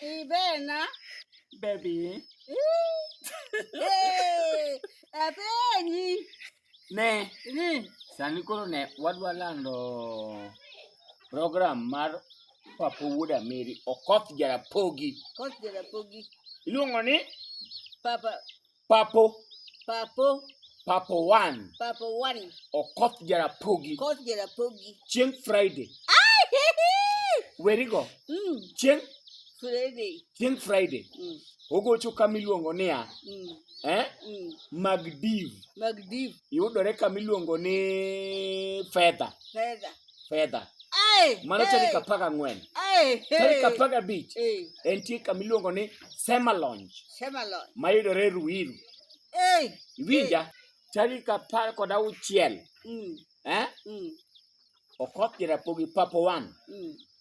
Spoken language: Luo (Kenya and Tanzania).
Ibe na. Baby. Hey, ape ni. Ne. Ni. Sani koro ne wadwa lando program mar Papa Wuod Ameri Okoth Jarapogi. Okoth Jarapogi. Iluongo ni? Papa Papo. Papo. Papo one. Papo one. Okoth Jarapogi. Okoth Jarapogi. Chieng' Friday. Ay, he, he. Werigo. Mm. Chieng' Friday. Chieng' Friday. Mm. Ogocho kama iluongo niya. Mm. Eh? Mm. Magdiv. Magdiv. Yudore kama iluongo ni Fedha. Fedha. fedha mano tarik apar gang'wen tarik apar gabich entie kama iluongo ni semalonj mayudore e ruiru iwinja tarik apar kod auchiel mm. eh? mm. okoth jarapogi papo wan mm.